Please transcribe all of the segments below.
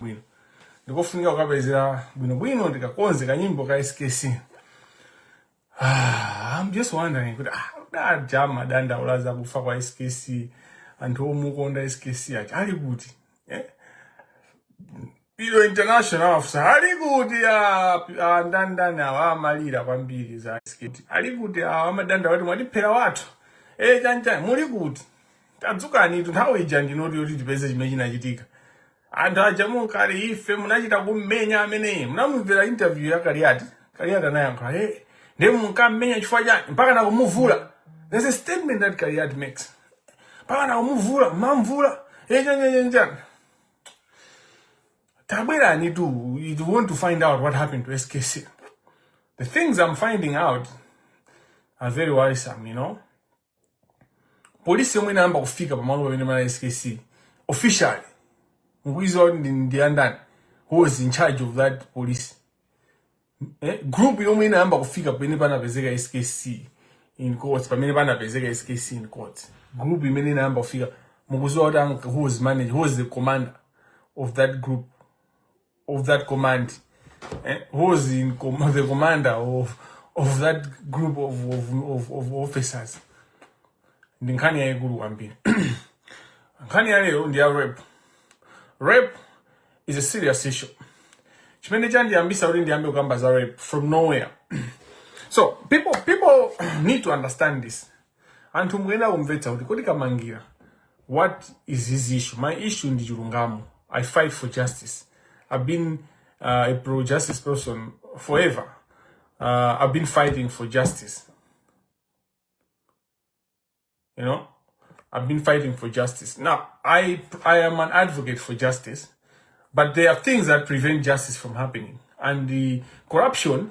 bwino ndikofunika kukapezera bwinobwino ndikakonze ka nyimbo ka skc ah, I'm just wondering kuti ah, aja amadandaula za kufa kwa skc anthu omukonda skc aja ali kuti eh? Pilo international afusa ali kuti ah, ah, ndi ndani awa amalira kwambiri za skc ali kuti awa amadanda wati mwatiphera wathu eh, chani chani muli kuti tadzukanitu nthawi ija ndi ino yoti tipeze chimene chinachitika anthu aja munkali ife munachita kummenya ameneyi munamumvera interview ya Kaliati Kaliati anayankha hey, ndiye munkammenya chifukwa chani mpaka nakumuvula there's a statement that Kaliati makes mpaka nakumuvula mamvula eh chani chani tabweranitu if you want to find out what happened to skc the things i'm finding out are very worrisome you know polisi yomwe inayamba kufika pamalo pamene panali skc officially mukuiziwa kuti ndi- ndi andani who was in charge of that police eh, group yomwe inayamba kufika pamene panapezeka skc in quotes pamene panapezeka skc in quotes group imene inayamba kufika mukuziwa kuti ang- who was in charge who was the commander of that group of that command eh, who was in com the commander of, of that group of, of, of, of officers ndi nkhani yayikulu kwambiri nkhani ya lero ndi ya rape rape is a serious issue chimene chandiyambisa kuti ndiyambe kukamba za rape from nowhere so people people need to understand this anthu mukuyenda kumvetsa kuti kodi kamangira what is his issue my issue ndi chilungamo i fight for justice i've been uh, a pro justice person forever uh, i've been fighting for justice you know i've been fighting for justice now i i am an advocate for justice but there are things that prevent justice from happening and the corruption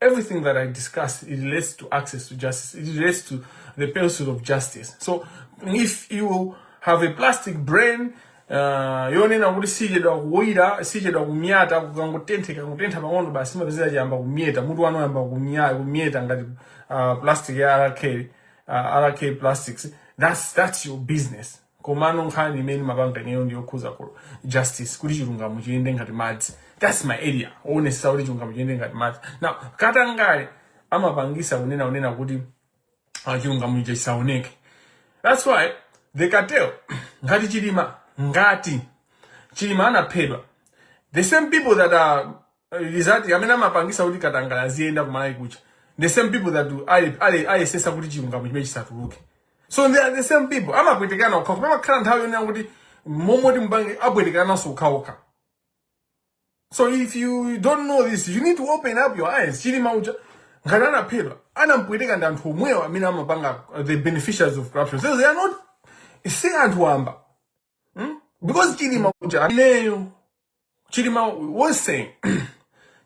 Everything that I discuss, it relates to access to justice. It relates to the pursuit of justice. So if you have a plastic brain, uh, yonena kuti sichedwa kuwira sichedwa kumyata kukangotenthe kangotentha pang'ono basi mapezeka chayamba kumyeta mutu wanu wayamba kumyeta ngati uh, plastic ya rk uh, rk plastics that's, that's your business komano nkhani imene mapanga ineyo ndi yokhuza justice kuti chilungamo chiyende ngati madzi that's my area kuonetsetsa kuti chilungamo chiyende ngati madzi now katangale amapangisa kunena kunena kuti ah, chilungamo icho chisaoneke that's why the cartel ngati Chilima ngati Chilima anaphedwa the same people that are rizati amene amapangisa kuti katangale aziyenda ku Malawi kuja the same people that ali ali ayesesa kuti chilungamo chimene chisatuluke so they are the same people amapwetekana okha koma imakhala nthawi yonena kuti mmoti mbanje apwetekananso okhaokha so if you don't know this you need to open up your eyes Chilima uja ngati anaphedwa anampweteka ndi anthu omwewo amene amapanga the beneficiaries of corruption so they are not si anthu wamba hmm? because chilima uja ineyo chilima wonse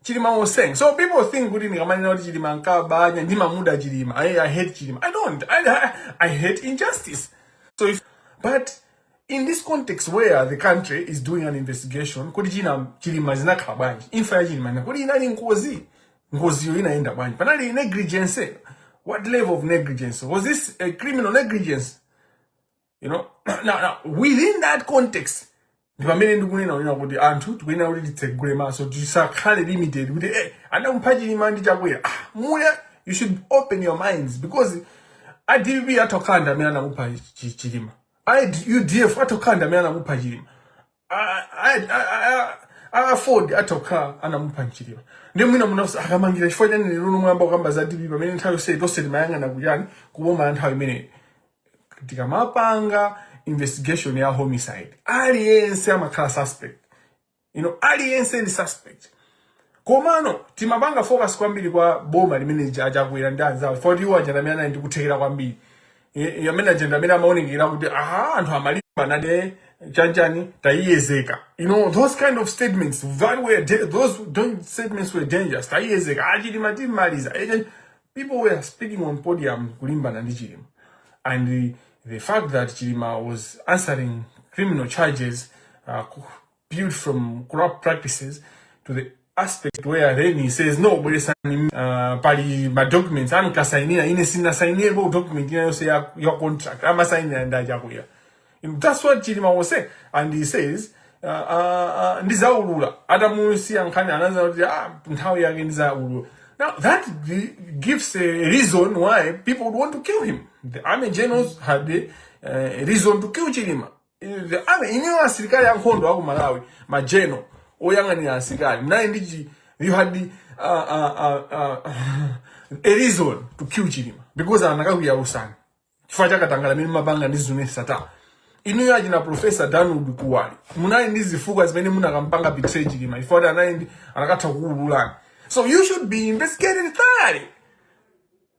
chilima wonse so people think kuti ndikamanena kuti chilima ankaba anya ndimamuda chilima I, i hate chilima i don't I, I, i hate injustice so if, but in this context where the country is doing an investigation kuti za Chilima zinakhala bwanji imfa ya chilima kuti inali ngozi ngoziyo inaenda bwanji panali negligence what level of negligence was this a criminal negligence you know now, now within that context ndi pamene ndikunena kunena kuti anthu tikuyenera kuti titsegule maso tisakhale limited kuti eh, anamupha chilima ndi chakwera ah, muya you should open your minds because a dpp atha kukhala ndi amene anamupha Chi- chilima a udf atha kukhala ndi amene anamupha chilima aford atha kukhala anamupha chilima ndiye mwina mufunsa akamangira chifukwa chani lero lino mwayamba kukamba za dpp pamene nthawi yonse tonse timayang'ana kuchani kuboma la nthawi imeneyo tikamapanga investigation ya homicide aliyense amakhala suspect you know aliyense ndi suspect Komano timapanga focus kwambiri kwa boma limene lija achakwera ndi anzawo chifukwa choti iwo aja amene anali ndi kuthekera kwambiri I- i- amene aja ndi amene amaonekera kuti aha anthu amalimbana naye chani chani tayiyedzeka you know those kind of statements that were da- those statements were dangerous tayiyedzeka achilima timaliza Eh, people were speaking on podium kulimbana ndi chilima and the, the fact that Chilima was answering criminal charges uh, ku- built from corrupt practices to the extent where then he says no bweresani uh, pali madocuments ankasainidwa ine sinasainirepo document ina iliyonse ya, ya contract amasainira ndi achakwera that's what chilima was saying and he says uh, uh, uh, ndizaulula atamusiyira nkhani ananena kuti ah, nthawi yake ndizaulula now that gives a reason why people would want to kill him the army generals had a, uh, a reason to kill chilima The army inuyo asilikali ankhondo aku malawi majeno oyang'anira asilikali mnali ndi chi- you had the, uh, uh, uh, uh, a reason to kill chilima because akanakuyalutsani chifukwa chakatangala amene mumapanga ndi zuneth sattar inuyo achina profesa dan kuwali munali ndi zifukwa zimene mukanampanga betray chilima chifukwa choti anali ndi akanatha kukuululani so you should be investigated thoroughly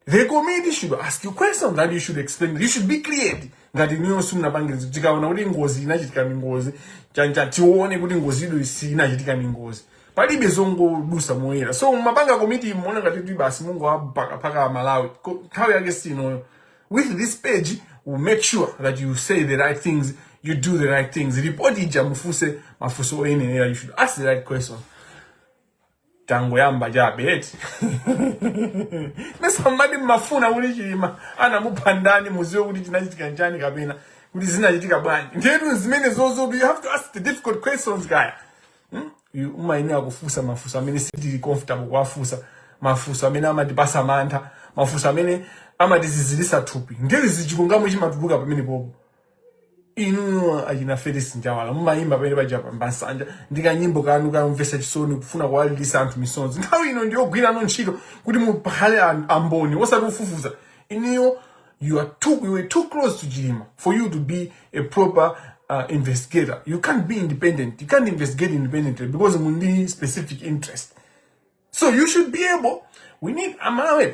the committee should ask you questions that you should explain you should be cleared ngati niyo simunapange zinthu tikaona kuti ngozi inachitika ni ngozi chancha tione kuti ngozi ido sinachitika ni ngozi palibe zongodusa moyera so mumapanga komiti muona ngati kuti basi mungu apakapaka malawi Ko- nthawi yake sinoyo with this page will make sure that you say the right things you do the right things report ija mufuse mafuso oyenelera you should ask the right questions tangoyamba chabe eti mesa mmati mmafuna kuti chilima anamupha ndani muziwe kuti chinachitika njani kapena kuti zinachitika bwanji ndetu zimene zozotu you have to ask the difficult questions guys hmm? You- umayenera kufunsa mafunso amene sitili comfortable kuwafunsa mafunso amene amatipasa mantha mafunso amene amatizizirisa thupi ndiye zichilungamo chimatuluka pamenepopo inuyo achina felix njawala mumayimba pamenepaja pa pansanja ndi kanyimbo kanu kamvesa chisoni kufuna kuwalilisa anthu misonzi nthawi ino ndiyogwirano ntchito kuti mukhale an- amboni osati kufufuza inuyo you are too, you were too close to chilima for you to be a proper uh, investigator you can't be independent you can't investigate independently because muli ndi specific interest So you should be able, we need a Malawi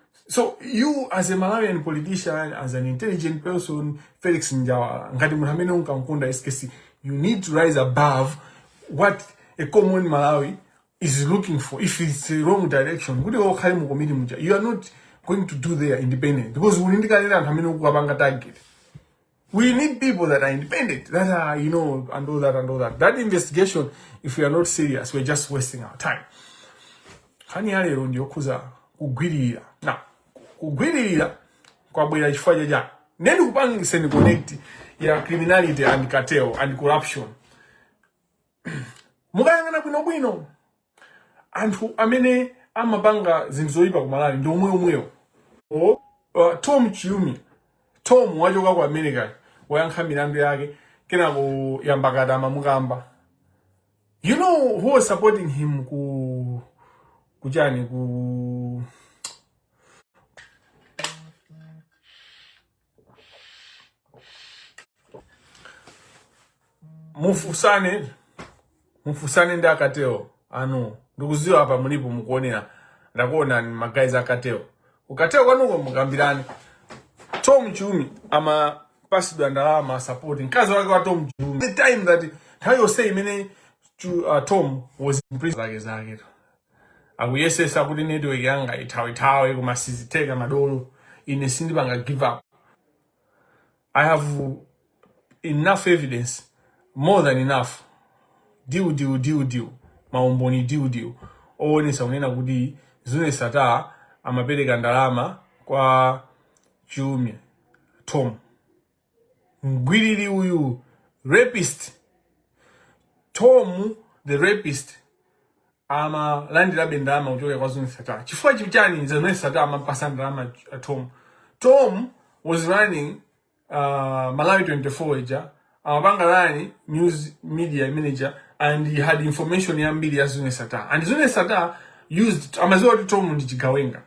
So you as a Malawian politician, as an intelligent person, Felix Njawala, ngati munthu amene unkamkonda SKC, you need to rise above what a common Malawi is looking for if it's the wrong direction. Kuti okhale mu committee muja. You are not going to do there independent because ulindikalira anthu amene ukupanga target. We need people that are independent, that are, you know, and all that and all that. That investigation, if we are not serious, we're just wasting our time. Nkhani ya lero ndi yokhudza kugwiririra. Now kugwiririra kwabwera chifukwa cha chani. Ine ndikupangiseni connect ya criminality and cartel and corruption. Mukayang'ana bwinobwino anthu amene amapanga zinthu zoyipa ku malawi ndi omwe omwewo o uh, tom chiumia tom wachoka ku america wayankha milandu yake kenako yambakata amamukamba you know who was supporting him ku kuchani ku mufusane mufusane ndi a cartel anu ndikuziwa apa mulipo mukuonera ndakuonani magaizi a cartel ku cartel kwanuko mukambirane tom chiumia amapasidwa ndalama asapoti mkazi wake wa tom chiumia the time that nthawi yonse imene Chu- uh, tom was in prison zake zake akuyesesa kuti network yanga ithawethawe koma sizitheka madolo ine sindipanga give up i have enough evidence more than enough diu diu diu diu maumboni diu diu owonesa kunena kuti zuneth sattar amapereka ndalama kwa chiumia tom mgwiriri uyu rapist tom the rapist amalandirabe ndalama kuchokera kwa zuneth sattar chifukwa chichani zuneth sattar amampasa ndalama uh, tom tom was running uh, malawi 24 ija amapanga run news media manager and he had information yambiri ya zuneth sattar and zuneth sattar used amaziwa kuti tom ndi chigawenga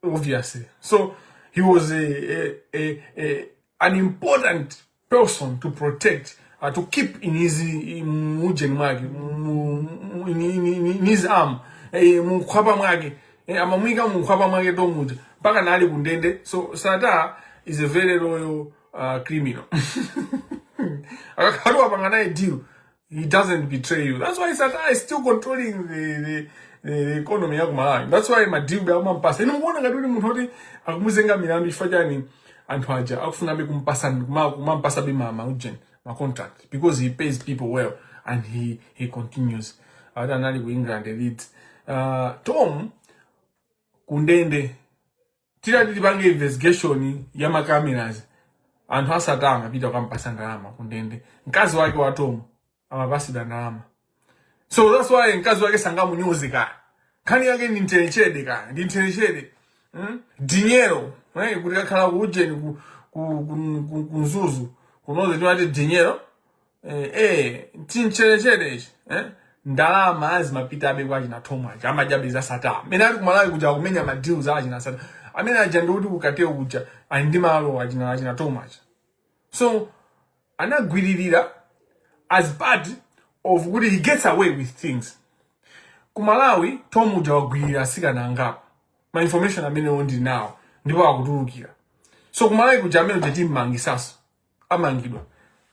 obviously. So he was a, a, a, a an important person to protect, uh, to keep in his mujeni mwake, in his arm, eh, mukhwapa mwake, eh, amamwika mukhwapa mwake tomuja, mpaka nali kundende. So Sata is a very loyal uh, criminal. Akakhaluwa panganaye deal. he doesn't betray you that's why Sattar is still controlling the, the, the economy ya ku malawi that's why madilu be akumampasa inu mukuona ngati kuti munthu oti akumuzenga milandu chifukwa chani anthu aja akufunabe kumpasa kuma- kumampasabe ma ma ujeni ma contract because he pays people well and he he continues ati anali ku england Leeds uh, Tom kundende tinati tipange investigation ya ma cameras anthu a Sattar amapita kukampasa ndalama kundende mkazi wake wa Tom amapatsidwa ndalama so that's why mkazi wake sangamunyoze ka nkhani yake ndi nthenchede ka ndi nthenchede hmm? dinyero eh, kuti kakhala ku ujeni ku, ku, ku, ku, ku nzuzu kunoze timati dinyero eh, eh, chinchelechele ichi eh? ndalama zimapita abe kwa china Tom aja ama jab za Sattar amene ali kumalawi kuja akumenya madilu a achina Sattar amene aja ndikuti kukateo kuja ali ndi malo achina achina Tom aja so anagwiririra as part of kuti he gets away with things kumalawi tom uja wagwiririra atsikana angapo ma information amene ndili nawo ndipo akutulukira so kumalawi kuja amene uja timmangitsaso amangidwa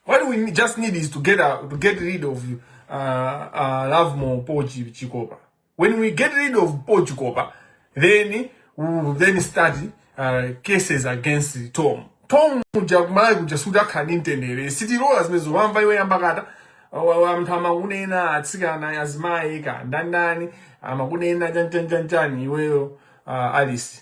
what we just need is to get, a, to get rid of uh, uh, Lovemore po chikopa when we get rid of po chikopa then we will then start uh, cases against tom tom uja kumalawi kuja sudzakhala ndi mtendere sitilola zimenezo wamva iwe nyambakata anthu amakunena atsikana azimayi kaya ndani ndani amakunena chanchanchanchani iweyo uh, alice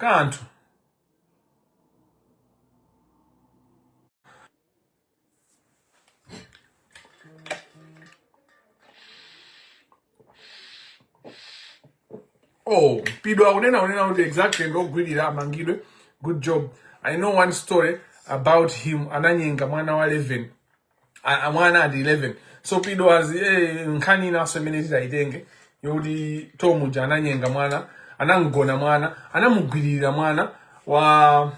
kanthu. Oh, Pido akunena kunena kuti exactly ndi wogwirira amangidwe. Good job. I know one story about him ananyenga mwana wa 11 mwana ati 11 so pido azi eh, nkhani inanso imene titaitenge yokuti tom uja ananyenga mwana anamgona mwana anamugwiririra mwana wa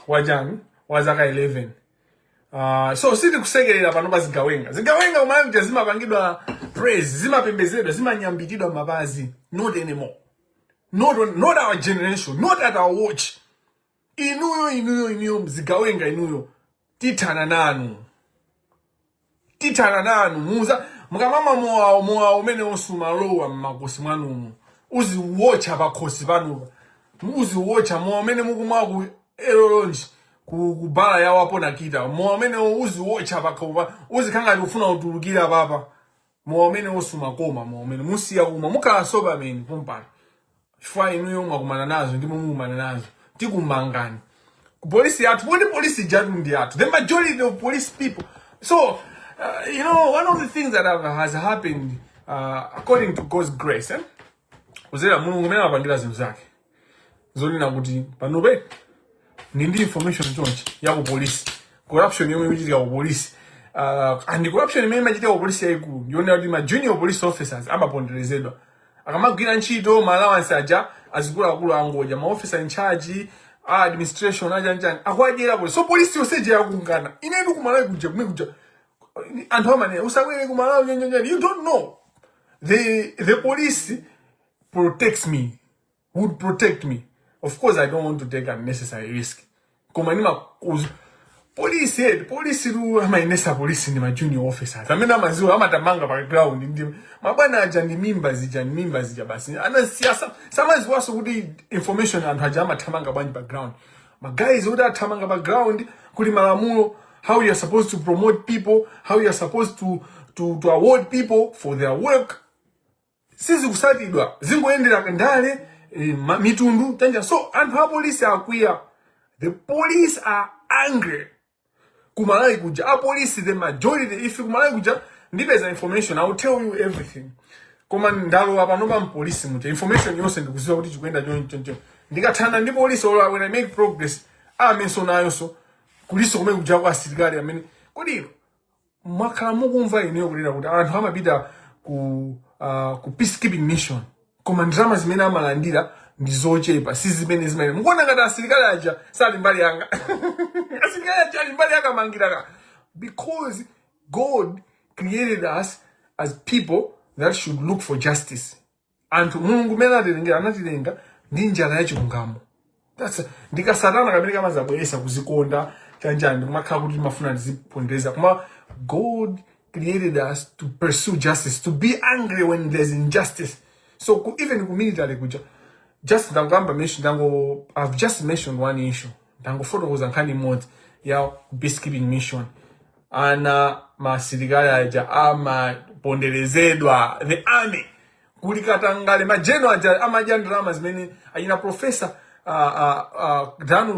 wachani wa zaka 11 Uh, ah, so sitikusekerera pano pa zigawenga zigawenga kuMalawi kuja zimapangidwa praise zimapembezedwa zimanyambitidwa mapazi not anymore not, on, not our generation not at our watch inuyo inuyo inuyo zigawenga inuyo tithana nanu tithana nanu muza mukamamwa mowa mowa umene uzimalowa mmakosi mwanumo uziwotcha pakhosi panupo uziwotcha mowa umene mukumwa ku elolonji ku ku bala yawo a Paul Nakita mowa umenewo uziwotcha pakhopa uzikhala ngati ufuna kutulukira papa mowa umenewo sumakoma mowa umene musiya kumwa mukhala sober amene pompano chifukwa inuyo mwakumana nazo ndipo mukumana nazo tikumangani ku polisi yathu poti polisi ijatu ndi yathu the majority of police people so uh, you know one of the things that have, has happened uh, according to god's grace eh? kuzera mulungu mmene amapangira zinthu zake zonena kuti panopa ndili ndi information chonchi ya ku police corruption yomwe ikuchitika ku police uh, and corruption imene imachitika ku police yayikulu ndi yonena kuti ma junior police officers amaponderezedwa akamagwira ntchito ma allowance aja azikuluakulu angodya ma officer in charge a administration aja njani akuwadyera police so police yonse ija yakungana ine ndi kumalawi kuja kumene kuja anthu amanena usabwere kumalawi nyanjanyani you don't know The, the police protects me, would protect me. Of course, I don't want to take unnecessary risk. Koma nima kuzu. Police head, police ru ama inesa police ni ma junior officers. Amena maziwa, ama tamanga pa ground. Ndi, mabana aja ni mimba zija, ni mimba zija basi. Ana siasa, sama ziwaso kuti information antu aja ama tamanga banji pa ground. ma guys oti athamanga pa ground kuli malamulo how you are supposed to promote people how you are supposed to, to, to award people for their work sizikusatidwa zingoyendera ndale eh, ma- mitundu tanja so anthu a polisi akwiya the police are angry kumalawi kuja apolisi the majority ife kumalawi kuja ndipeza information i will tell you everything koma ndalowa panopa mpolisi muja information yonse ndikuziwa kuti chikuyenda chonchoncho ndikathana ndi polisi or when i make progress armynso nayonso kuliso kumene kuja kwa asilikali amene kodi mwakhala mukumva ineyo kunena kuti anthu amapita ku uh, ku peacekeeping mission koma ndalama zimene amalandira ndi zochepa si zimene zimene mukuona ngati asilikali aja sali mbali yanga asilikali aja ali mbali ya kamangila ka because god created us as people that should look for justice anthu mulungu mmene atilenga anatilenga ndi njala ya chilungamo That's- ndi kasatana kamene kamazabweresa kuzikonda chanjani kumakhala kuti mafuna ndizipondereza koma god created us to pursue justice to be angry when there's injustice so ku, even ku military kuja just ndangamba mention ndango i've just mentioned one issue ndangofotokoza nkhani imodzi ya peacekeeping mission ana masilikali aja amaponderezedwa the army kuli katangale ma general aja amadya ndalama zimene achina profesa uh, uh, uh, dan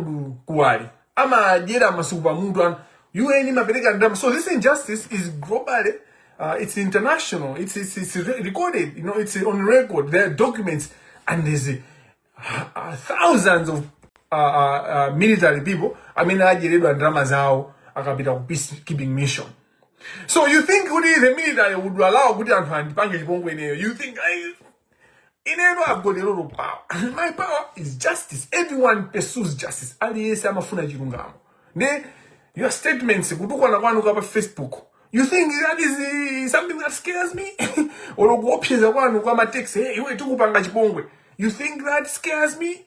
kuwali amadyera masuku pamutu anthu un imapereka ndalama so this injustice is globally uh, it's international it's, it's, it's re- recorded you know it's on record there are documents and there's uh, thousands of uh, uh, uh, military people amene adyeredwa ndalama zawo akapita ku peacekeeping mission so you think kuti the military would allow kuti anthu andipange chipongwe ineyo you think I, ineyo i've got a lot of power my power is justice everyone pursues justice aliyense amafuna chilungamo ndi your statements kutukwana kwanu kwa pa facebook you think that is uh, something that scares me or kuopseza kwanu kwa matext hey, iwe tikupanga chipongwe you think that scares me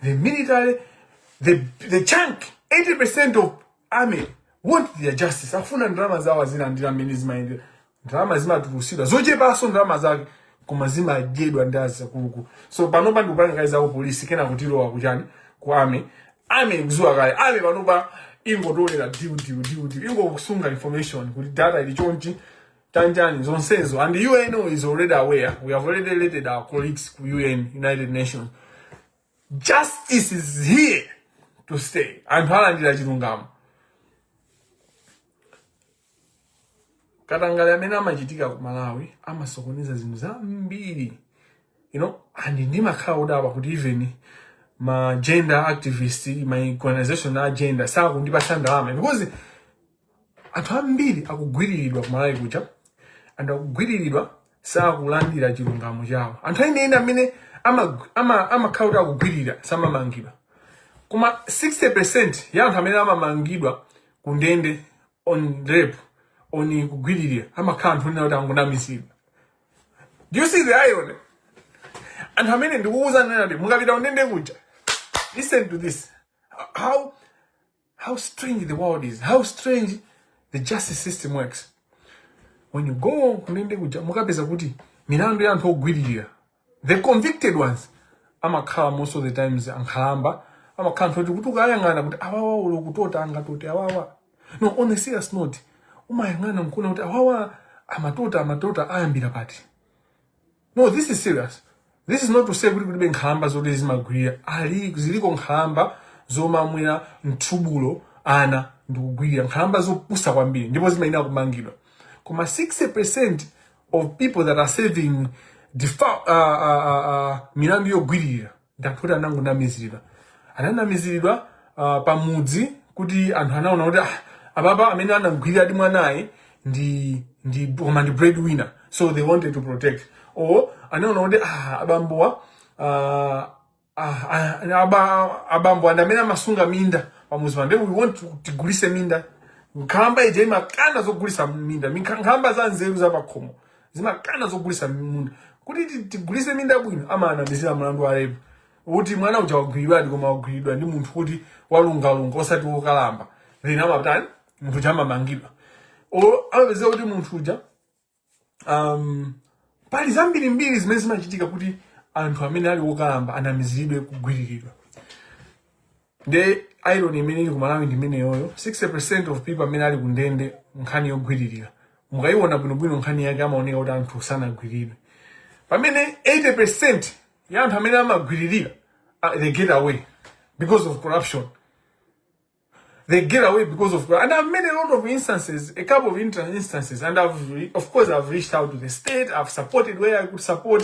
the military the, the chunk 80% of army want their justice afuna ndalama zawo azilandira mmene zimayendera ndalama zimatulusidwa zochepanso ndalama zake koma zimadyedwa ndi azakuluku so panopa ndikupanga kaye zaku polisi kena kuti tilowa kuchani ku army army ikuziwa kale army panopa ingotolera diu diu diu diu ingokusunga information kuti data ili chonchi tanjani zonsezo and un is already aware we have already letted our colleagues ku un united nations justice is here to stay anthu alandira chilungamo katangale amene amachitika ku malawi amasokoneza zinthu zambiri you know and ndimakhala odabwa kuti even ma gender activist ma organization a gender sakundipatsa ndalama because anthu ambiri akugwiriridwa kumalawi kuja and akugwiriridwa sakulandira chilungamo chawo anthu enieni amene amakhala ama, ama akuti akugwirira samamangidwa koma 60% ya anthu amene amamangidwa ku ndende on rape on kugwiririra amakhala anthu onena kuti angonamizidwa do you see the irony anthu amene ndikukuwuzani ine kuti mukapita kundende kuja listen to this how How strange the world is. How strange the justice system works. When you go kundende kuja mukapeza kuti milandu ya anthu ogwiririra the convicted ones amakhala most of the times ankhalamba amakhala anthu oti kuti ukayang'ana kuti awawa ulo kutota angatote awawa no on a serious note umayang'ana nkuona kuti awawa amatota amatota ayambira pati no this is serious this is not to say kuti kulibe nkhalamba zoti zimagwirira ali ziliko nkhalamba zomamwera mthubulo ana ndikugwirira nkhalamba zopusa kwambiri ndipo zimayenera kumangidwa koma 60% of people that are serving defa- uh, uh, uh, uh, milandu yogwirira ndi anthu oti anangonamiziridwa ananamiziridwa uh, pamudzi kuti anthu anaona kuti ah, ababa amene anamgwirira ati mwanayu ndi ndi koma ndi breadwinner so they wanted to protect or anaona kuti ah, abambowa ah, ah, ah, aba- abambo andi amene amasunga minda pamuzi pano then we want to- tigulise minda nkhalamba ija imakana zogulisa minda Minkha- nkhalamba za nzeru zapakhomo zimakana zogulisa munda kuti ti- tigulise minda bwino amaanamizira mlandu wa rape kuti mwana uja wagwiridwadi koma wagwiridwa ndi munthu woti walungalunga osati wokalamba then amatani munthu uja amamangidwa o amapezeka kuti munthu uja um, pali zambirimbiri zimene zimachitika kuti anthu amene ali wokalamba anamiziridwe kugwiriridwa Nde irony imene ili ku Malawi ndi imeneyoyo. 60% of people amene ali ku ndende nkhani yogwiririra mukaiona bwinobwino nkhani yake imaoneka kuti anthu sanagwiridwe, pamene 80% ya anthu amene amagwiririra ah, they get away because of corruption they get away because of and I've met a lot of instances, a couple of inter- instances, and I've re- of course I've reached out to the state, I've supported where I could support,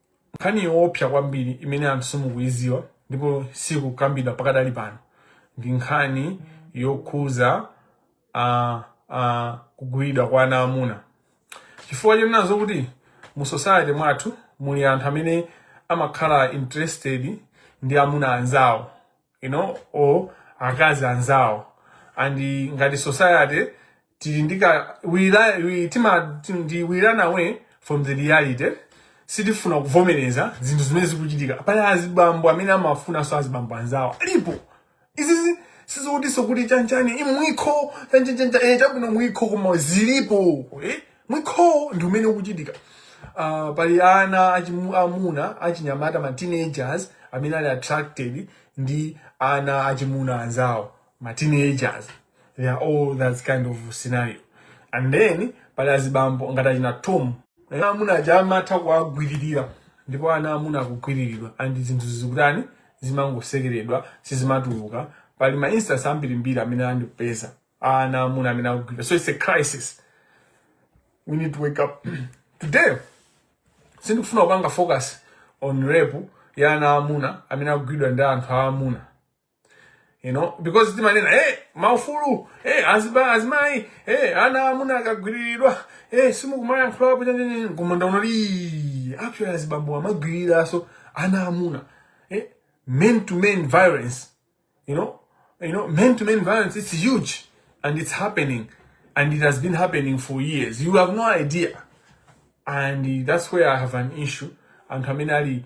nkhani yoopsa kwambiri imene anthu simukuiziwa ndipo sikukambidwa pakadali pano ndi nkhani yokhuza uh, uh, kugwiridwa kwa ana amuna chifukwa chonena zokuti mu society mwathu muli anthu amene amakhala interested ndi amuna anzawo you know or akazi anzawo and ngati society tili ndi ka we li- we- tima ti- ndi we run away from the reality sitifuna kuvomereza zinthu zimene zikuchitika pali azibambo amene amafunanso azibambo anzawo alipo izizi sizokutiso kuti chanchani i mwikho chanchanchanja eh, chabwino mwikho koma zilipo eh? mwikho ndi umene ukuchitika uh, pali ana achimu- amuna achinyamata ma teenagers amene ali attracted ndi ana achimuna anzawo ma teenagers they are all that kind of scenario and then pali azibambo ngati achina tom ana amuna aja amatha kuwagwiririra ndipo ana amuna akugwiriridwa and zinthu zikutani zimangosekeredwa sizimatuluka pali ma instance ambirimbiri amene andipeza ana amuna amene akugwirira so it's a crisis we need to wake up today sindikufuna kupanga focus on rape ya ana amuna amene akugwiridwa ndi anthu aamuna you know because timanena hey maufulu hey aziba azimai hey ana amuna akagwiriridwa hey simukumayankhulapo chanjenje koma ndaona li actually azibambo amagwiriraso ana amuna hey eh, men to men violence you know you know men to men violence it's huge and it's happening and it has been happening for years you have no idea and that's where i have an issue anthu amene ali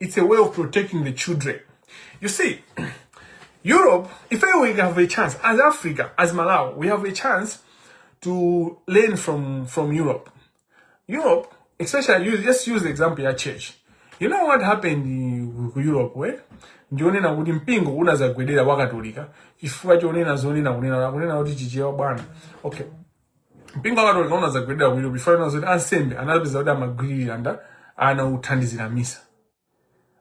It's a way of protecting the children. You see, Europe, if we have a chance, as Africa, as Malawi, we have a chance to learn from, from Europe. Europe, especially, use, just use example ya church. You know what happened ku Europe, where? ndi onena kuti mpingo unazagwedera wakatolika chifukwa chonena zonena kunena kunena kuti chichewa bwana okay mpingo wa katolika unazagwedera ku Europe ponena zoti ansembe anapeza kuti amagwiririra nda ana othandizira misa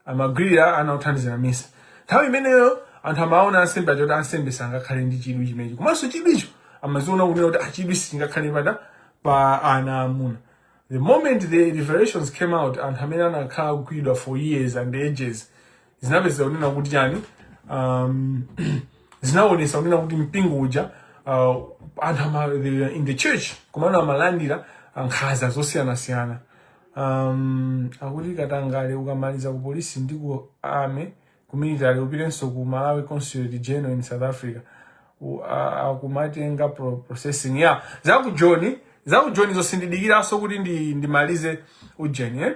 amagwirira ana othandizira misa nthawi imeneyo anthu amaona ansembe aja kuti ansembe sangakhale ndi chidwi chimenecho komanso chidwicho amaziona kunena kuti chidwi sichingakhale pada pa ana amuna the moment the revelations came out anthu amene anakhala kugwidwa for years and ages zinapeza kunena kuti chani um, zinaonesa kunena kuti mpingo uja uh, anthu in the church komano amalandira uh, nkhaza zosiyanasiyana um, akuti katangale ukamaliza ku polisi ndi ku army ku military upitenso ku malawi consulate general in south africa akumatenga pro processing ya yeah. za ku joni za ku joni zosandidikiraso kuti ndi ndimalize ujeni eh?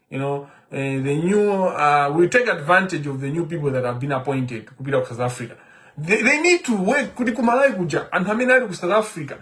you know uh, the new uh, we take advantage of the new people that have been appointed kupita ku south africa they, they need to work kuti kumalawi kuja anthu amene ali ku south africa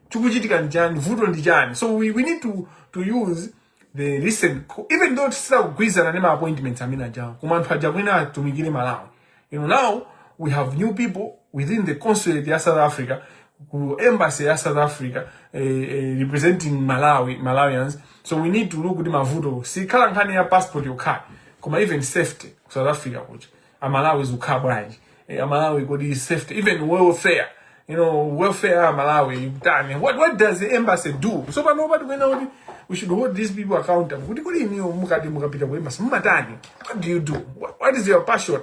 chikuchitika ndichani vuto ndichani so we, we need to, to use the recent even though tisakugwirizana ndi ma appointments amene ajawo koma anthu aja kwina atumikire malawi You know, now we have new people within the consulate ya South Africa, ku embassy ya South Africa, eh, eh, representing Malawi, Malawians. So we need to look kuti mavuto. Sikhala nkhani ya passport yokha ayi, koma even safety ku South Africa kuti. Amalawi zikukhala bwanji? Eh, Amalawi kodi safety, even welfare. you know, welfare ah, Malawi, Tani. What what does the embassy do? So but nobody we know we should hold these people accountable. What do you mean mukati mukapita ku embassy? Mumatani. What do you do? What, what is your passion?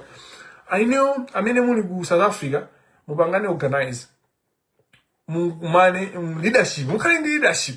I know I mean muli ku South Africa mupangane organize. Mumane leadership, mukali leadership.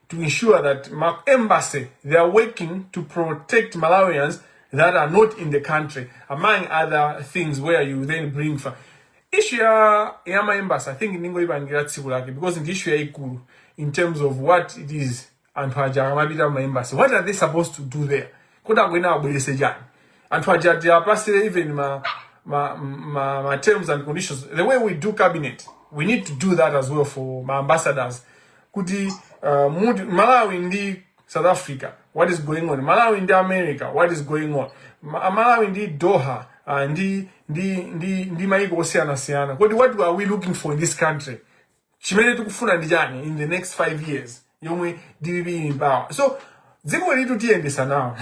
to ensure that ma embassy they are working to protect Malawians that are not in the country among other things where you then bring for issue ya ya ma embassy i think ndingoyipangira tsiku lake because ndi issue yayikulu in terms of what it is anthu aja akamapita ma embassy what are they supposed to do there kuti akuyenera abwerese chani anthu aja ati apasire even ma ma, ma ma terms and conditions the way we do cabinet we need to do that as well for ma ambassadors kuti uh, muti malawi ndi south africa what is going on malawi ndi america what is going on Ma- malawi ndi doha uh, ndi ndi ndi ndi maiko osiyanasiyana kodi what are we looking for in this country chimene tikufuna ndi chani in the next five years yomwe dpp ili m'power so dziko ilitu tiyendesa nawo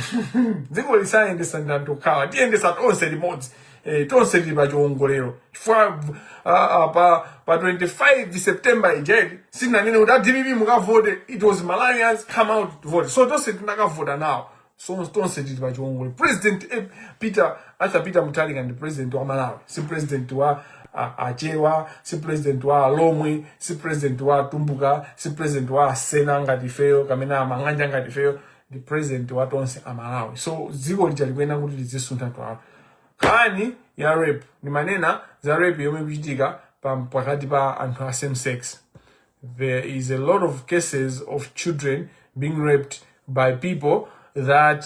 dziko lisayendesa ndi anthu okhawa tiyendesa tonse limodzi eh, tonse tili pa chiwongolero chifukwa uh, uh, pa, pa 25 september ija eti sitinanene kuti adpp mukavote it was malawians come out to vote so tonse tinakavota nawo so tonse tili pa chiwongolero president eh, peter Arthur Peter Mutharika ndi president wa Malawi si president wa a- achewa si president wa alomwe si president wa atumbuka si president wa asena ngati ifeyo kapena amang'anja ngati ifeyo ndi president wa tonse amalawi so dziko lija likuyenera kuti lizisuntha twalo nkhani ya rape ndimanena za rape yomwe ikuchitika pa- pakati pa anthu a same sex there is a lot of cases of children being raped by people that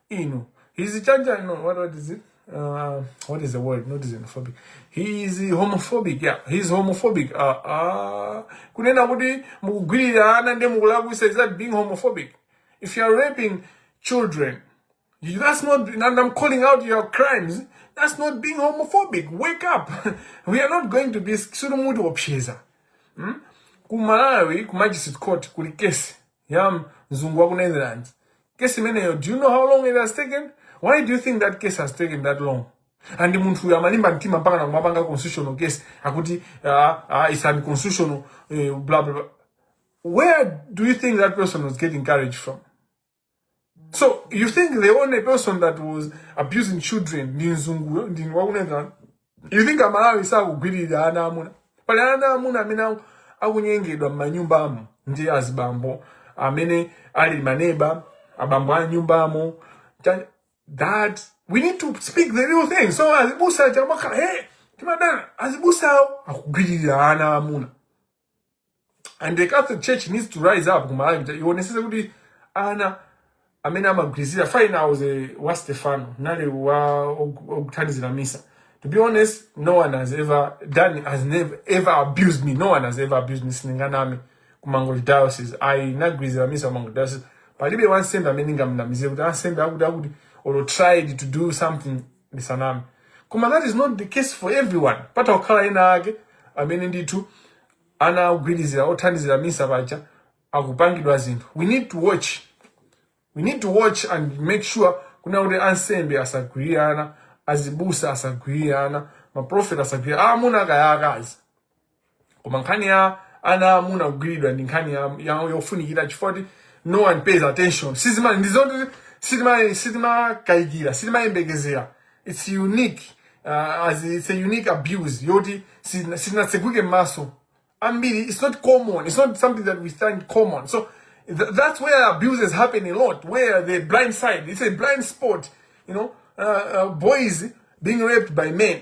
inu he's a change I know what what is it uh, what is the word not xenophobic he is homophobic yeah he is homophobic uh, uh, kunena kuti mukugwirira ana ndi mukulakwisa is that being homophobic if you are raping children you, that's not and i'm calling out your crimes that's not being homophobic wake up we are not going to be sulu muti opsheza hmm? ku malawi ku magistrate court kuli kesi yam mzungu wa ku netherlands kesi imeneyo do you know how long it has taken why do you think that case has taken that long and munthu uyu amalimba mtima mpaka nakumapanga constitutional case akuti uh, uh, it's unconstitutional uh, blah, blah, blah. where do you think that person was getting courage from So you think the only person that was abusing children ndi mzunguyo ndi wakuneka? You think amalawi sakugwirira ana amuna? Pali ana amuna amene aku- akunyengedwa m'manyumbamo ndi azibambo amene ali maneba abambo a nyumbamo. Cha- That we need to speak the real thing. So azibusa chamakhala hey timadana azibusawo akugwirira ana amuna. and the catholic church needs to rise up kumalawi kuti ionesese kuti ana amene amagwirizira fine i was a wa stefano nali wa ok- okuthandizira misa to be honest no one has ever done has never ever abused me no one has ever abused me sindinganame ku mangochi diocese ndinagwirizira misa ku mangochi diocese palibe wansembe amene ndingamnamizire kuti ansembe akuti akuti or tried to do something ndisaname koma that is not the case for everyone patha kukhala ena ake amene ndithu anagwiriridwa othandizira misa paja akupangidwa zinthu we need to watch we need to watch and make sure kunena kuti ansembe asagwirire ana azibusa asagwirire ana maprofeti asagwirire ana aamuna kaya aakazi koma nkhani ya ana aamuna kugwiriridwa ndi nkhani ya- ya- yofunikira chifukwa choti no one pays attention sizima ndizoti sitima sitimakayikira sitimayembekezera it's unique uh, as it's a unique abuse yoti sitina- sitinatseguke m'maso ambiri it's not common it's not something that we find common so th that's where abuses happen a lot where the blind side it's a blind spot you know uh, uh, boys being raped by men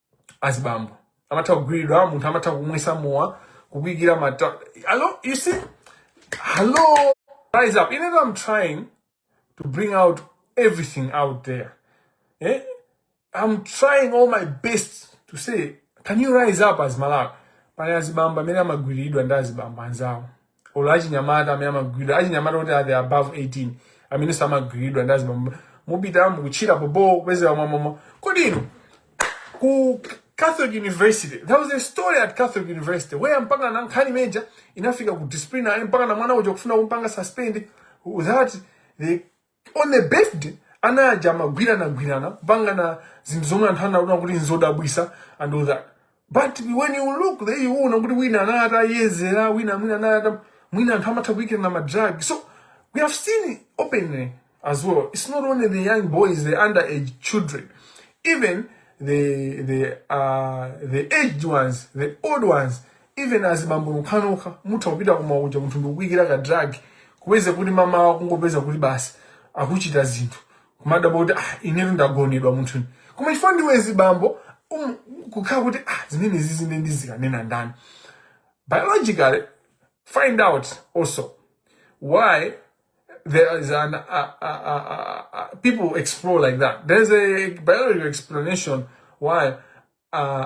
azibambo amatha kugwiridwa munthu amatha kumwisa mowa kukwikira mata hello you see hello rise up even though i'm trying to bring out everything out there eh? i'm trying all my best to say can you rise up as malawi pali azibambo amene amagwiridwa ndi azibambo anzawo olo achinyamata amene amagwiriridwa achinyamata oti ali above 18 amene akumagwiriridwa ndi azibambo mupita mukutchila pompo kudzera m'mawa kodi inu ku Catholic University. There was a story at Catholic University where mpaka na nkhani imene ija inafika ku disciplinary mpaka na mwana uja kufuna kumpanga suspend that the On the birthday ana aja amagwiranagwirana kupangana zinthu zomwe anthu anaona kuti nzodabwisa and all that but when you look there you know kuti wina anali ataledzera wina mwina anali ata mwina anthu amatha kuikirana ma drug so we have seen it openly as well it's not only the young boys the underage children even the the uh the aged ones the old ones even azibambo nokhanokha mutha kupita ku mowa kuja munthu ndikukuyikira ka drug kupeza kuti m'mawa wake kungopeza kuti basi akuchita zinthu kumadabwa kuti ah, inetu ndagonedwa munthune koma chifukwa ndiwe mzibambo um, kukhala kuti ah, zimenezi nde ndizikanena ndani biologically find out also why there is an uh, uh, uh, uh, people explore like that there's a biological explanation why uh,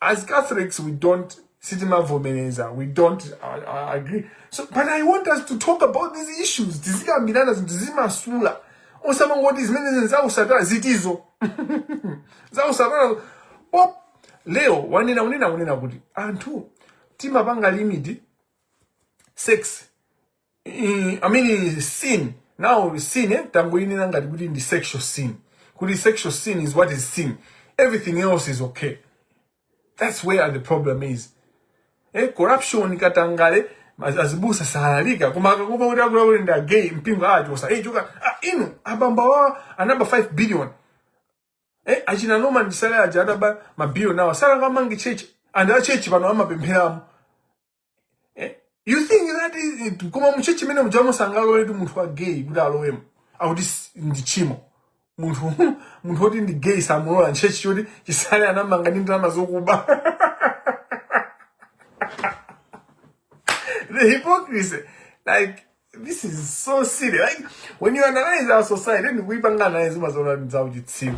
as catholics we don't sitimavomereza we don't uh, uh, agree so but i want us to talk about these issues tizikambirana zinthuzi momasuka osamangoti zimenezi zausatana zitizo zausatana Pope Leo wanena unena unena kuti anthu timapanga limit sex i, I mean sin now sin eh, tangoyinena ngati kuti ndi sexual sin kuti sexual sin is what is sin everything else is okay that's where the problem is eh, corruption katangale az- azibusa salalika koma akakumva kuti akuwa akuti ndi agay mpingo achosa eh, choka ah, inu abambo awawa anaba 5 billion eh, achina Noma andale aja adaba mabilion awa anakamanga chechi and a chechi pano amapempheramo eh? you think that is koma muchechi mene muja musangalole kuti munthu wa gay kuti alowemo akuti s- ndi chimo munthu munthu woti ndi gay samulola m'chechi choti chisale anamanga ndi ndalama zokuba the hypocrisy like this is so silly like when you analyze our society let me kuipanga analyze umaziona ndi za uchitsiru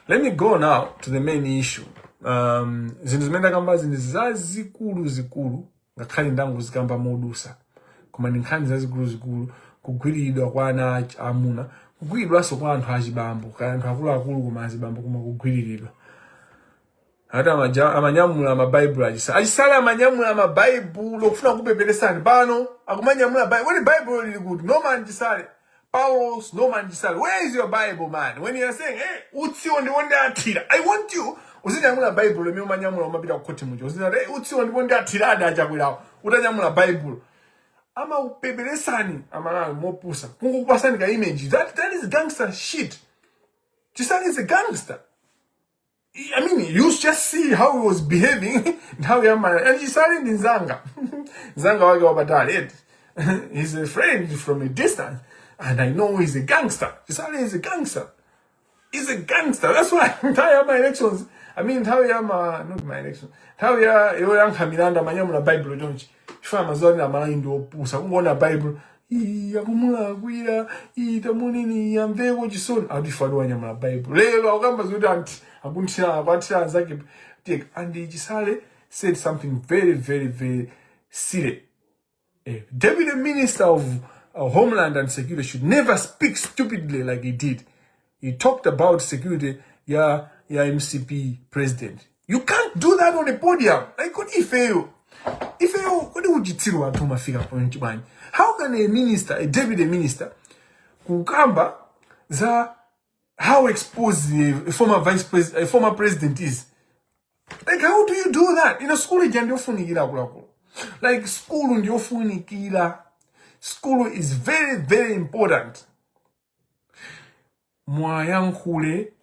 let me go now to the main issue um zinthu zimene ndakambazi ndi zazikulu zikulu ngakhale ndangozikamba modusa koma ndi nkhani zazikulu zikulu kugwiriridwa kwa ana ach- amuna kugwiriridwanso kwa anthu achibambo kaya anthu akuluakulu koma azibambo koma kugwiriridwa ati amaja- amanyamula mabaibulo achisale achisale amanyamula mabaibulo kufuna kupepeletsani pano akumanyamula Bi- when bible ili kuti no man chisale paulos no man chisale where is your bible man when you are saying hey, utsiwo ndipo ndiwathira i want you uzanyamule baibulo limene umanyamula ukamapita kukhoti muja uzanene hey, utsiwo ndipo ndiwathira adi achakwerawo utanyamula baibulo amakupepeletsani amalawi ndi opusa kungokupasani ka image that, that is gangster shit chisale is a gangster I mean, you just see how he was behaving nthawi ya ma chisale ndi nzanga nzanga wanga wapatali eti he's a friend from a distance and i know he's a gangster chisale is a gangster he's a gangster that's why nthawi ya ma elections i mean nthawi ya ma not ma elections nthawi yoyankha milandu amanyamula bible chonchi chifukwa amaziwa kuti amalawi ndi opusa kungoona baibulo "Ii, akumulakwira ii, tamuoneni ii amveko chisoni atifali wanyamula baibulo lero akukamba zoti ati akuthira akuwathira anzake tek and chisale said something very very very silly Eh, Deputy Minister of uh, Homeland and Security should never speak stupidly like he did. He talked about security ya ya MCP president. You can't do that on the podium. Like kodi ifeyo. Ifeyo kodi uchitsiru wathu umafika point bwanji? How can a minister, a deputy minister kukamba za how exposed a former vice president, a former president is? Like how do you do that? Inu school ija ndiyofunikira akuluakulu. Like school ndiyofunikira. School is very very important. muwayankhule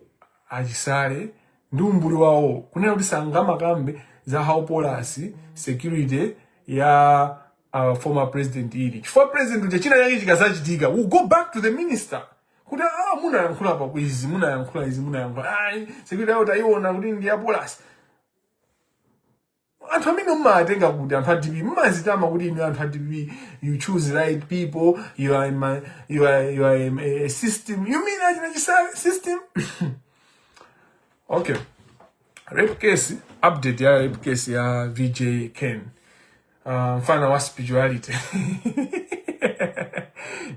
achisale ndi umbuli wawo kunena kuti sangamakambe za how porous security ya uh, former president ili chifukwa president uja china chake chikazachitika we'll go back to the minister kuti ah munayankhula pa izi munayankhula izi munayankhula ah security yawo tayiona kuti ndi ya porous anthu amene mmawatenga kuti anthu a dpp mmazitama kuti inu anthu a dpp you choose right people you are, in my, you are, you are a, a system you mean achina chisale system okay rape case update ya rape case ya vj ken uh, mfana wa spirituality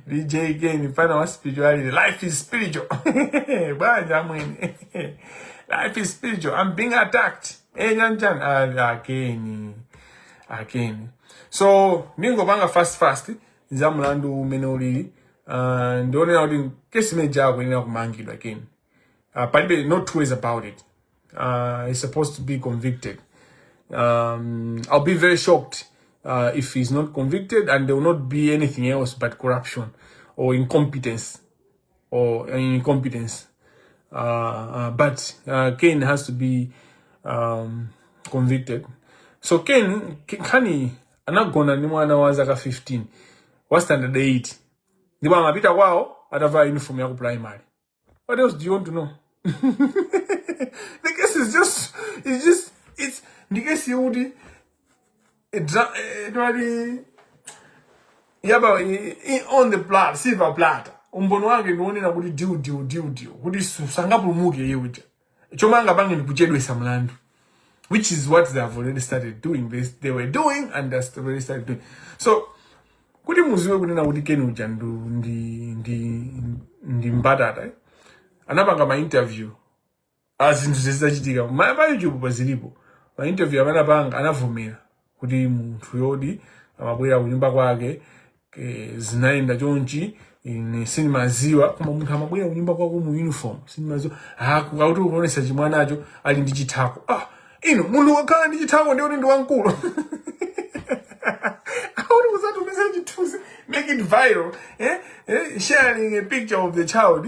vj ken mfana wa spirituality life is spiritual banja mwene life is spiritual i'm being attacked Eh yanjani ali akeni. Akeni. So ndingopanga fast fast za mlandu umene ulili. Uh, ndionera kuti kesi imene jako inena kumangidwa akeni. Uh, palibe no two ways about it. Uh, he's supposed to be convicted. Um, I'll be very shocked uh, if he's not convicted and there will not be anything else but corruption or incompetence. or incompetence. Uh, uh, but uh, Cain has to be um, convicted. So Cain, Kani anagona ni mwana wa zaka 15 wa standard 8 ndipo amapita kwao atavaa uniform ya ku primary. What else do you want to know? the case is just it's just it's the case you would Dra- eh, case yodi ya pa i- i- on the platter silver platter umboni wake ndi onena kuti diu diu diu diu kuti su- sangapulumuke iye uja chomwe angapange ndi kuchedwesa mlandu which is what they have already started doing they, they were doing and they have already started doing so kuti muziwe kunena kuti Ken uja ndu ndi ndi ndi mbatata eh? anapanga ma interview a zinthu zizichitika ma pa youtube pa zilipo ma interview amene anapanga anavomera kuti munthu yodi amabwera kunyumba kwake eh, zinayenda chonchi ine sindimaziwa koma munthu amabwera kunyumba kwako mu uniform sindimaziwa koma akuti ukuonesa chimwanacho ali ndi chithako ah ino munthu akakhala ndi chithako nde kuti ndi wamkulu How was that message choose? Make it viral. Eh? Eh? Sharing a picture of the child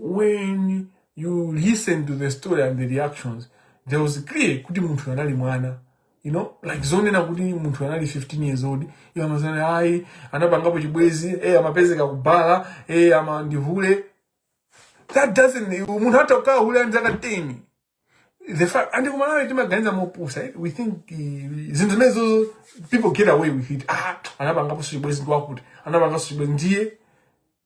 when you listen to the story and the reactions there was clear kuti munthu anali mwana you know like zonena kuti munthu anali 15 years old iwo amanena ayi anapangapo chibwezi eh amapezeka kubhala eh ama ndihule that doesn't munthu atha kukhala hule ali ndi zaka 10 the fact and ku Malawi timaganiza mopusa eh? we think uh, zinthu zimenezo people get away with it ah anapangapo chibwezi ndiwakuti anapangapo chibwezi ndiye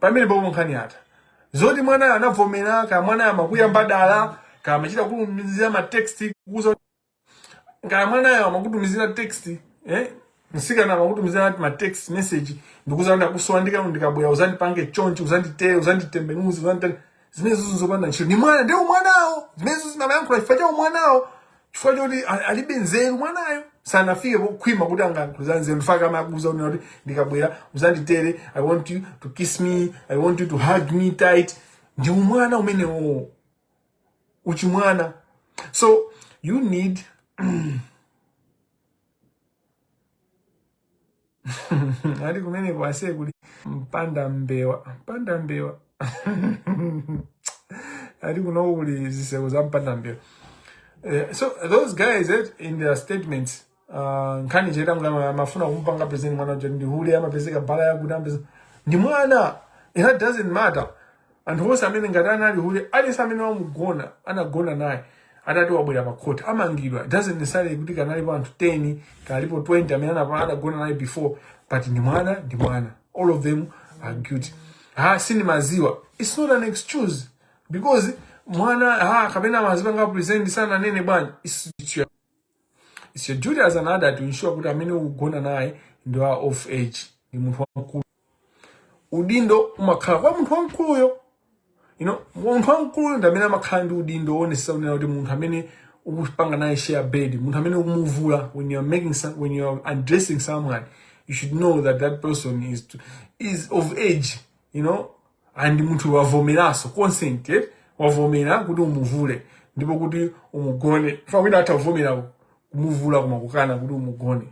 pamenepo nkhani yatha zoti mwanayo anavomela kaya mwanayo amakuyamba dala kaya amachita kutumizira ma text kukuuza kaya mwanayo amakutumizira text eh msikana akakutumizira ma text message ndikukuuza ndakusowa ndika ndikabwera uzandipange chonchi uzanditere uzanditembenuze uzanditere zimenezo zopanda ntchito ndi mwana nde umwanawo zimenezo anayankhula chifukwa cha umwanawo chifukwa choti a- alibe nzeru mwanayo sanafike pokhwima kuti angayankhule za nzeru n'chifukwa chake amakuuza kunena kuti ndikabwera uzanditere i want you to kiss me i want you to hug me tight ndi umwana umenewo uchibwana so you need ati kumeneko aise kuli mpanda mbewa mpanda mbewa ati kuno kuli zitseko za mpanda mbewa Eh, so those guys eh, in their statements uh, nkhani ya Cheta mmene amafuna kumpanga present mwana uja ndi hule amapezeka bala yakuti amapezeka ndi mwana it doesn't matter anthu onse amene ngati anali hule aliyense amene wamugona anagona naye atati abwera pa court amangidwa It doesn't necessarily kuti kaya analipo anthu 10 kaya analipo 20 amene anapa- anagona naye before but ndi mwana ndi mwana all of them are guilty ha sindimaziwa it's not an excuse because mwana ha kapena anazipanga present sananene bwana it's, it's your It's your duty as an adult to ensure kuti amene ukugona naye ndi wa of age ndi munthu wamkulu udindo umakhala kwa munthu wamkuluyo you know munthu wamkuluyo ndi amene amakhala ndi udindo woonesa kunena kuti munthu amene ukupanga naye share bed munthu amene ukumuvula when you are making some, when you are undressing someone you should know that that person is to, is of age you know and munthu wavomeranso consent eh? wavomera kuti umuvule ndipo kuti umugone fa wina atha kuvomera kumuvula koma kukana kuti umugone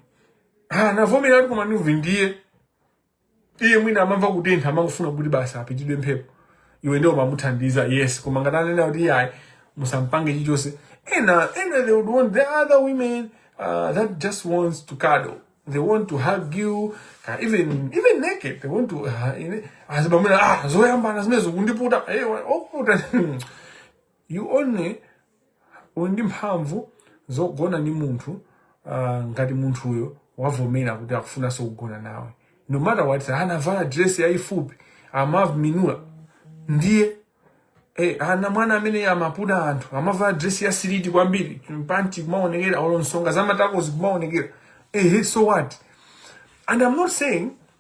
ah navomera kuti koma ndiye iye mwina amamva kutentha amangofuna kuti basi apitidwe mphepo iwe ndiye umamuthandiza yes koma ngati anena kuti ayi musampange chichonse ena ena they would want there are women uh, that just wants to cuddle they want to hug you uh, even even naked they want to uh, azibamuna ah zoyambana zimenezo kundiputa eh, wa- okuputa You only uli ndi mphamvu zogona ndi munthu uh, ngati munthuyo wavomera kuti akufunanso kugona nawe no matter what anavala dress yayifupi amavala minula ndiye eh, ana mwana amene amaputa anthu amavala dress ya siliti kwambiri panti kumaonekera olo nsonga za matako zikumaonekera eh, so what and i'm not saying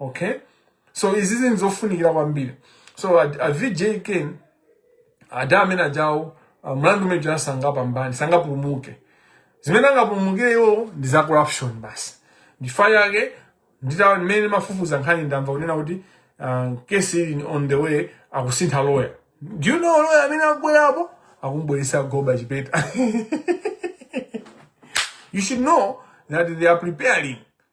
okay so izizi ndi zofunikira kwambiri so a, a vj ken ada amene aja awo uh, mlandu umene uja sangapambane sangapulumuke zimene angapulumukire iwo ndi za corruption basi ndifa yake ndita mmene ndimafufuza nkhani ndamva kunena kuti uh, kesi ili on the way akusintha lawyer do you know lawyer amene akubwerapo akumbweresa goba chipeta you should know that they are preparing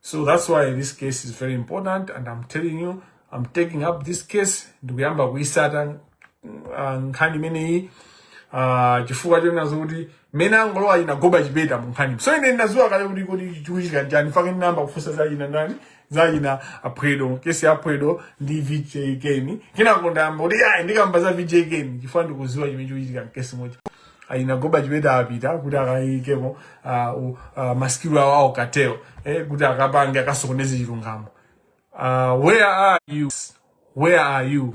so that's why this case is very important and i'm telling you i'm taking up this case ndikuyamba kuyisata ah, nkhani imeneyi ah, chifukwa chonena zokuti mmene angolowa a Goba Chipeta mu nkhani so ine ndinadziwa kale kuti kodi chikuchitika njani fake ndinayamba kufunsa za achina ndani za achina Phwedo kesi ya Phwedo ndi vj keni kenako ndayamba kuti ayi ndikamba za vj keni chifukwa ndikudziwa chimene chikuchitika mkesi moja achina Goba Chipeta apita kuti akayikemo ah, u- ah, masikilu awo awo a cartel eh, kuti akapange akasokoneze chilungamo Ah, where are you where are you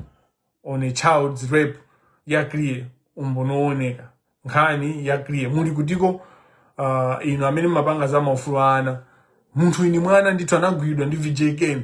on a child's rape ya clear umboni wooneka nkhani ya clear muli kutiko uh, inu amene mumapanga za maufulu a ana munthu winawake mwana ndithu anagwidwa ndi vj ken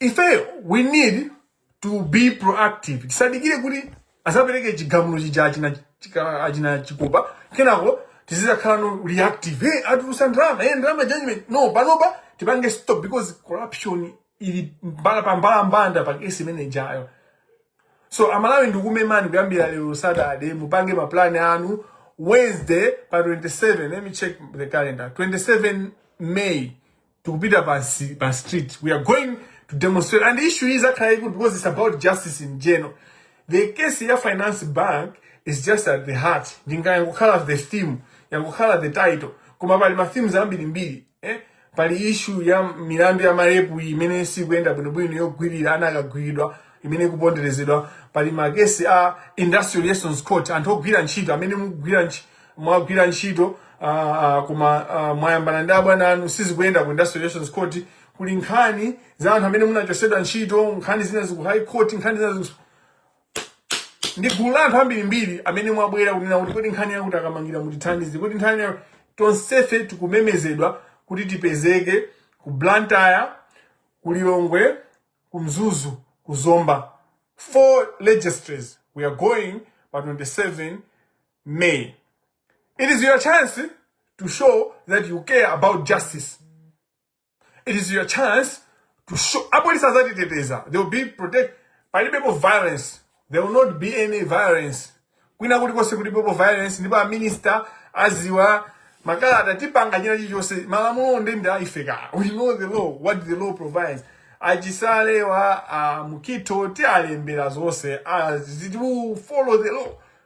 ifeyo we need to be proactive tisadikire kuti azapereke chigamulo chija achina chika- achina chikopa kenako tizizakhala no reactive hey, atulutsa ndalama hey, ndalama judgment no panopa tipange stop because corruption ili mbalambanda pa kesi imene ijayo so amalawi ndikumemani kuyambira lero saturday mupange maplani anu wednesday pa 27 let me check the calendar 27 may tikupita pa nsi- pa street we are going to demonstrate and the issue izakhala yaikulu because it's about justice in general the case ya finance bank is just at the heart ndinga yangokhala the theme yangokhala the title koma pali ma themes ambirimbiri eh? pali issue ya milandu ya marepu iyi imene sikuyenda bwinobwino yogwirira ana akagwiridwa imene ikuponderezedwa pali makesi a industrial relations court anthu ogwira ntchito amene mukugwira ntchito mwagwira ntchito uh, uh, koma uh, mwayambana ndi abwana anu sizikuyenda ku industrial relations court kuli nkhani za anthu amene munachosedwa ntchito nkhani zina ziku high court nkhani zina ziku ndi gulu la anthu ambirimbiri amene mwabwera kunena kuti kodi nkhani yakuti a kamangila mutithandize kodi nkhani ya tonsefe tikumemezedwa kuti tipezeke ku blantyre ku lilongwe ku mzuzu ku zomba four registries we are going pa 27 May. It is your chance to show that you care about justice. It is your chance to show. Apolisi azatiteteza. They will be protect. Palibepo violence. There will not be any violence. Kwina kulikonse kulibepo violence. Ndipo a minister aziwa makalata tipanga china chilichonse malamulo ndi ndi aifeka. We know the law, what the law provides. A Chisalewa, uh, Mukhito, tialembera zonse. Uh, we follow the law.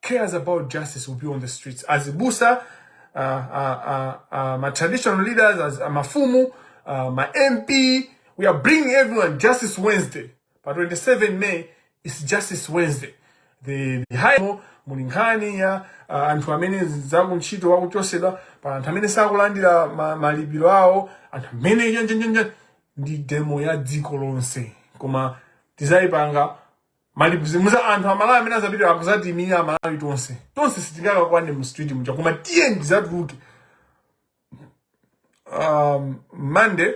cares about justice will be on the streets azibusa uh, uh, uh, uh, ma traditional leaders as uh, mafumu uh, ma mp we are bringing everyone justice wednesday pa 27 may is justice wednesday the, the high muli nkhani ya uh, anthu amene zakuntchito wakuchosedwa pa anthu amene sakulandira ma, malipiro awo anthu amene njenjenjenje ndi demo ya dziko lonse koma tizayipanga malimuza anthu amalawi amene azapita akuzatimira amalawi tonse tonse sitingakakwane mu street muja koma tiyeni tizatuluke um, monday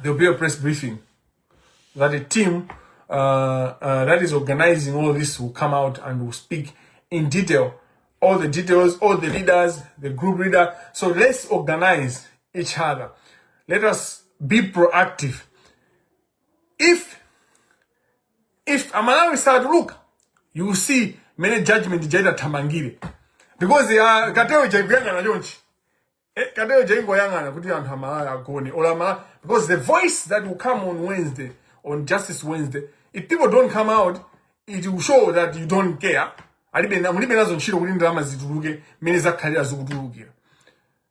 there will be a press briefing that a team uh, uh, that is organizing all this will come out and will speak in detail all the details all the leaders the group leader so let's organize each other let us be proactive if if amalawi satuluka you will see mene judgment ija itathamangire because ya cartel ija ikuyang'ana chonchi Eh, cartel ija ingoyang'ana kuti anthu amalawi agone or amalawi because the voice that will come on wednesday on justice wednesday if people don't come out it will show that you don't care alibe na- mulibe nazo ntchito kuti ndalama zituluke mmene zakhalira zikutulukira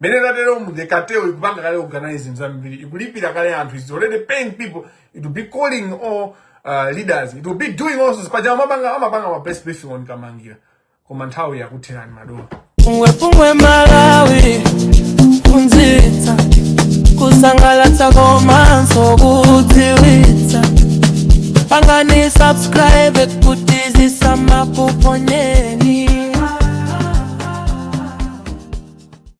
mmene tateromu the cartel ikupanga kale organize zambiri ikulipira kale anthu it's already paying people it will be calling all uh, leaders it will be doing also paja amapanga amapanga ma press briefing on kamangila koma nthawi yakutherani madolo pungwepungwe malawi kuphunzitsa kusangalatsa komanso kudziwitsa pangani subscribe kuti zisamakuphonyeni